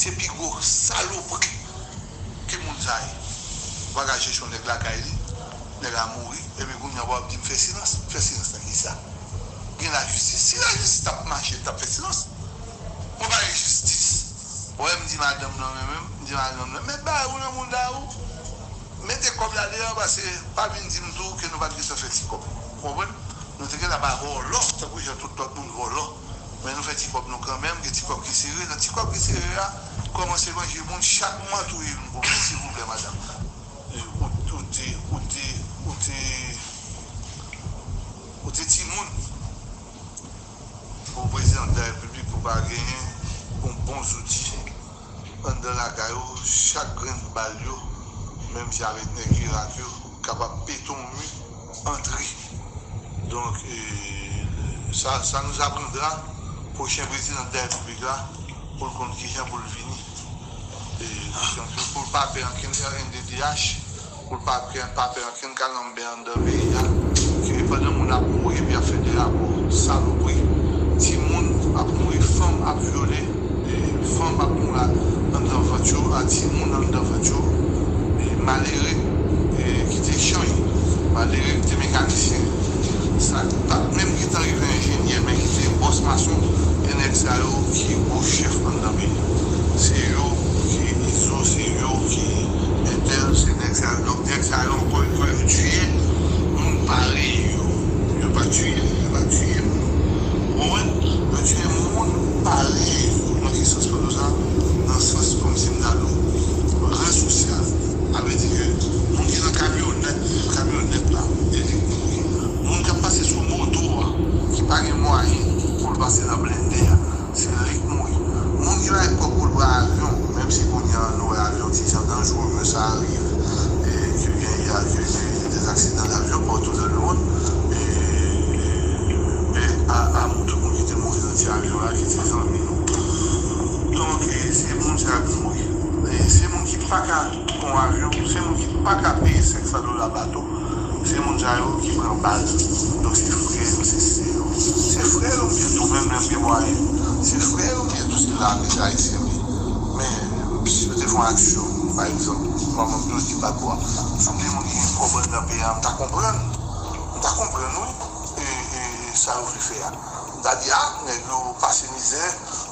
Se pi gwo salopri ke moun sa ye. Wap gad chechon nèg lakay li, nèg la mouri epi kounya wap di m fè silans, m fè silans nan kisa? Gen lajistis, si lajistis tap mache m tap fè silans. Mwen pa gen jistis. Ou wè m di madanm nan renmen m, m di madanm nan met bagay ou nan mouda ou, mete kòb la deyò pase pa vin di m tou ke nou pat gentan fè ti kòb. Ou konprann? Nou te gentan ba vòlò tankou jan tout lòt moun vòlò. Men nou fè ti kòb nou kanmenm, gen ti kòb ki sere, nan ti kòb ki sere ya kòmanse manje moun chak mwa touye youn pou mwen silvouplè madam ou te timoun pou prezidan de la repiblik pou pa genyen yon bon zouti anndan lakay ou chak grenn bal yo menm jan avèk nèg irak yo. Kapab beton mu antre. Donk sa nous apprendra prochen prezidan de la repiblik la pou l konn kijan pou l vini pou l pa pè ankenn rnddh pou l pa pè ankenn kalanbè anndan peyi a ke pandan moun ap mouri epi yap fè de rapò salopri timoun ap mouri fanm ap vyole. Fanm ap moura anndan vant yo a ti moun anndan vant yo e malere ki te chany malere ki te mekanisyen sa ki pat menm gentan rive enjenyè men ki te bòs mason e nèg sa yo ki gwo chèf anndan peyi se yo ki izo se yo ki entèl se nèg sa yo donk nèg sa yo ankò yo pa yo tiye moun parèy yo yo pa tiye yo pa tiye moun ou konprann yo tiye moun. Pale pou mwen kesyon Spinoza nan sans kòm si m ta di w ran sosyal. Sa vle di ke moun ki nan kamyonèt, kamyonèt la e li kouri. Moun k ap pase sou moto a ki pa gen mwayen pou l pase nan blende a, se li k mouri. Moun ki bay kòb pou l pran avyon, menm si kounye a nou wè avyon ti jan danjrere sa arive ke gen y a ke gen des aksidan davyon pa tou dan lemond e pè a a moun tout moun ki te mouri. Ti avion la ki se zanmi nou. Donk se moun sa ki mouri. Se moun ki paka pran avion, se moun ki paka peye 500 dola bato, se moun sa yo ki pran bal. Donk se frè yo, se sè yo. Se frè yo byen tou, menm lè yo gen mwayen. Se frè yo byen tou, se lame ayisyen li. Men, si yo te fè yon aksyon, pa egzanp, kòm m toujou di bato a, si m te moun ki gen kòb anndan peyi a, m ta konprann. M ta konprann wi sa yo vle fè a. M ta di ah nèg yo pase mizè,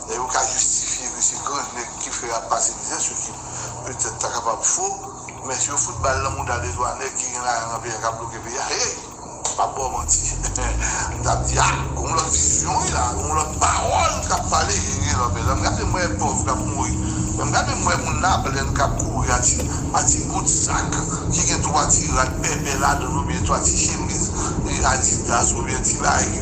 lè yo ka jistifye ke se gran nèg ki fè yap pase mizè, se ki petèt ta kapab fo, men si yo fout bal lan mouda 2 twa nèg ki gen lajan lan peyi a kap bloke peyi a, hey! M pap baw manti, m tap di ah gon lòt vizyon wi la, gon lòt pawòl kap pale e gen lòt bezwen. M gade m wè pòv kap mouri, men m gade m wè moun la plenn kap kouri a ti a ti bout sak ki gen 3 ti rad pèpè ladann oubyen 3 ti chemiz adidas oubyen ti bagay ki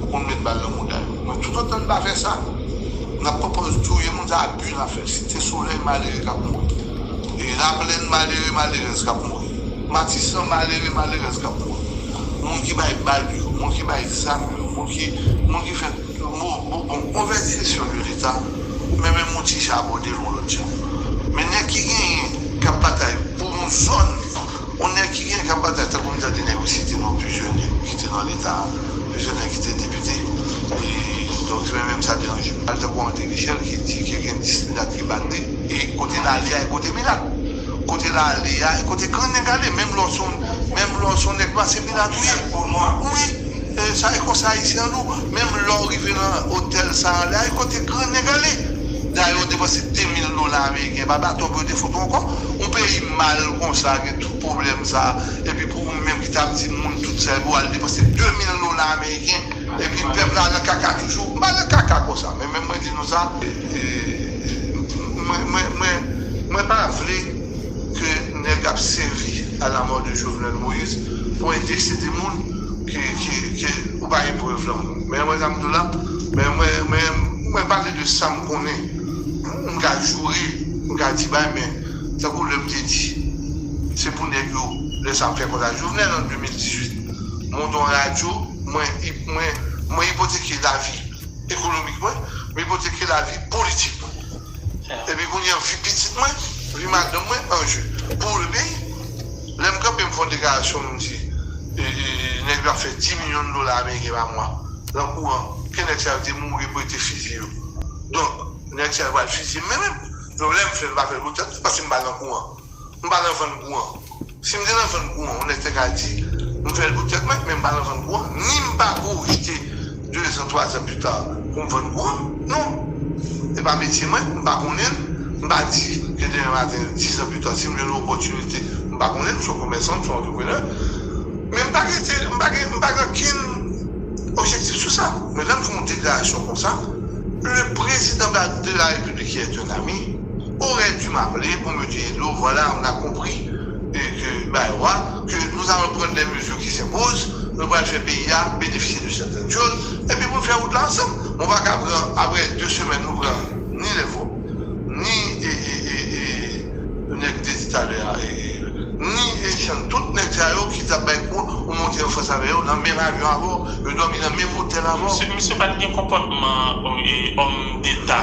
Ou konn met bal nan mouda yo. Mwen tout otan n pa fè sa nap pran pòz touye moun sa abi nap fè site solèy malere kap mouri laplèn malere malerèz kap mouri matisan malere malerèz kap mouri moun ki bay bal yo moun ki bay zam yo moun ki moun ki fè bon bon movèz jesyon de leta ou men menm ou ti jabode l yon lòt jan men nèg ki genyen kap batay pou yon zòn. On nèg ki gen kap batay tankou m tande nèg yo site non plizyè nèg ki te nan leta, plizyè nèg ki te depite e donk li menm menm sa deranje l pa li tankou André Michel ki di ke gen 10 milat ki bat li e kote l ale a e kote milat kote l ale a e kote grenn nèg ale menm lè w son menm lè w son nèg nwa se milat ou ye wi e sa e konsa ayisyen an nou menm lè w rive nan otèl sa ale a e kote grenn nèg ale. Dayè ou depanse 2 mil dola ameriken pa baton pou yo te fout ou ankò, yon peyi mal konsa gen tout pwoblèm sa epi pou ou menm ki tap di moun tout sa epi wal depanse 2 mil dola ameriken epi pèp la nan kaka toujou, m pa nan kaka konsa men menm mwen di nou sa mwen mwen mwen pa vle. ke nèg ap sèvi a la mort de Jovenel Moïse pou entèsede moun ke ou pa gen prèv lan moun. Men wè sa m di w la, men mwen pale de sa m konnen, m ka joure, m ka di bay men tankou lè m te di se pou nèg yo lè sa m fè kontra Jovenel an 2018 monte yon radyo, mwen ipoteke lavi ekonomik mwen, m ipoteke lavi politik mwen. Epi kounya vi pitit mwen, vi madanm mwen anje pou ou repi lèm kanpe m fè yon deklarasyon m di nèg yo ap fè 10 milyon dola ameriken pa mwa nan kouran ke nèg sa yo te mouri pou yo te fizye yo donk nèg sa yo pral fizye m menm lèm fèl m pa fèl pou tèt mwen paske m pa nan kouran. M pa nan vann gou an. Si m te nan vann gou an, yon nèg te ka di, M fè l pou tèt mwen, men m pa nan vann gou an. Ni m pa pwojte dezan, twazan pita pou m vann gou an. Non. Se pa metye mwen, m pa konnen l. M pa di ke demen maten, dizan pita, si m jwenn yon opòtinite, m pa konnen l, m se yon komèsan, m se yon antreprenè. Men m pa rete, m pa gen, m pa gen okenn objektif sou sa. Men lè m fè yon deklarasyon konsa, le prezidan de la Repiblik ki è un ami, Aurais dû m'appeler pour me dire hello, voilà on a compris que bay wa que nous allons prendre les mesures qui s'imposent, nou pral fè peyi a benefisye de certaines choses epi pou n fè wout la ansanm. Bon pa ka pran aprè 2 semèn nou pran ni lèvò, ni nèg m te di talè a, ni Echann, tout nèg sa yo ki t ap bay kou ou monte an fas avè yo nan menm avyon avè w, yo dòmi nan menm otèl avè w. Misye pa t gen konpòtman òm deta.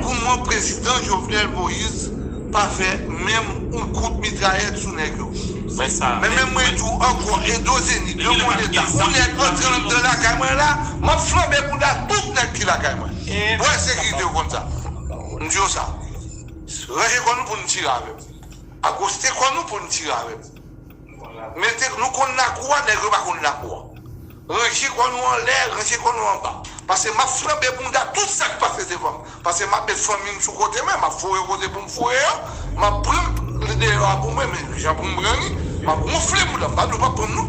Goumen prezidan jovenel moïse pa fè menm yon kout mitrayèt sou nèg yo men menm mwen di w ankò edo zenith de mon etat yon nèg antre andan lakay mwen la map flanbe bouda tout nèg ki lakay mwen wè sekirite yo konn sa m di yo sa ranje kò nou pou nou tire avèm akoste kò nou pou nou tire avèm. Mete nou konn lakou a nèg yo pa konn lakou a ranje kò nou anlè ranje kò nou anba pase map flanbe bounda tout sak pase devanm pase map met fanmim sou kote mwen map foure kote poum foure yo map pranm li deyò a poum renmen li jan poum pran li map wonfle bouda m pa di yo pap pranm non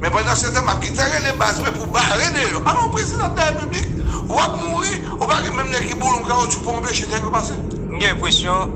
men pandan se tan map gentan rele baz mwen pou bare deyò alon prezidan de la repiblik wap mouri ou pa gen menm nèg ki boulon kawotchou pou anpeche nèg yo pase. M gen enpresyon.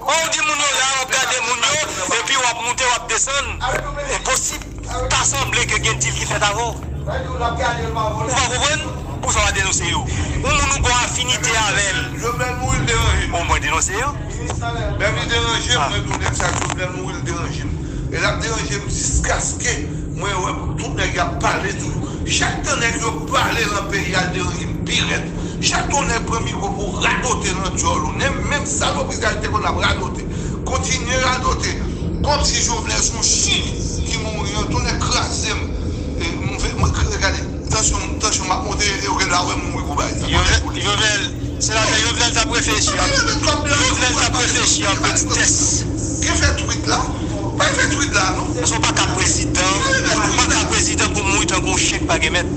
Bon ou di moun yo la wap gade moun yo epi wap moute wap desann enposib pa sanble ke gen dil ki fèt avèw ou pa konprann pousa wap denonse yo yon moun ou gon afinite avèl bon mwen denonse yo Chak yon nèg pran mikro pou radote nan dyòl ou nem menm salopri sa yo te konn ap radote kontinye radote komsi Jovenel son chyen ki mouri an tonnè krazem m fè m k gade tansyon tansyon m ap monte e yo gen dwa wè m mouri pou bagay sa kòmè pou li. Jovenel senatè Jovenel tap reflechi ak Jovenel tap reflechi ak petitès. Gen fè twit la? Pa gen fè twit la non. Paske w pa ka prezidan, w pa ka prezidan pou mouri tankou yon chyen ki pa gen mèt.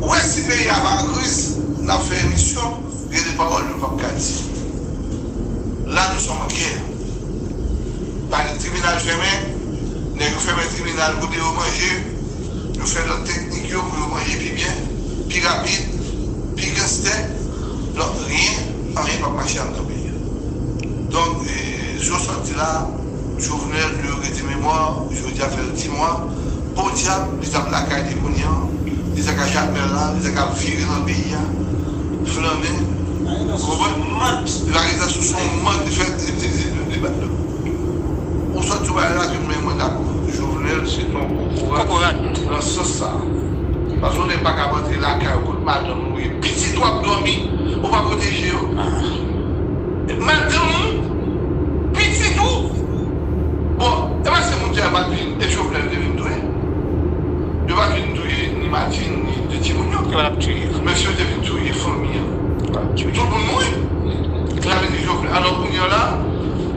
Ou wè si peyi a pa an kriz nap fè emisyon gen de pawòl nou pap ka di la nou som an gè pa gen tribinal fèmen nèg yo fèmen tribinal kote yo manje yo fè lòt teknik yo pou yo manje pi byen pi rapid pi ganstè donk ryen anyen pap mache andan peyi a donk e jan w sot di la. Jovenel de regrete memwa ou jodia fel di mwa podiab li tap lakay li kounya li ta ka jakmel la li ta ka vire nan peyi a flannen ou konprann li pa reta sou son mòd li fè li bat do ou sòt sou bagay la ke men mwen dakò jovenel se ton kokorat nan sans sa paske yon nèg pakab antre lakay ou kot madanm ou ye pitit ou ap domi ou pa proteje yo madanm ou. Pitit ou? Bon, e pa se moun ki ap admire m e Jovenel te vin touye? Yo pa vin touye ni Martine ni 2 timoun yo? Yo ap touye. Mesye yo te vin touye fanmi an. Yo ap touye. Tout moun mouri. Sa vle di Jovenel. Alò kounye an la,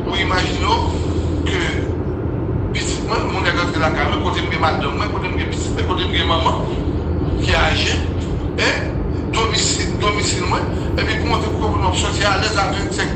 ou imajine w ke pitit mwen, yon nèg antre lakay mwen, kote m gen madanm mwen, kote m gen pitit mwen, kote m gen manman ki aje, e domisil, domisil mwen, epi pou montre pou ke moun wap soti alèz a 25.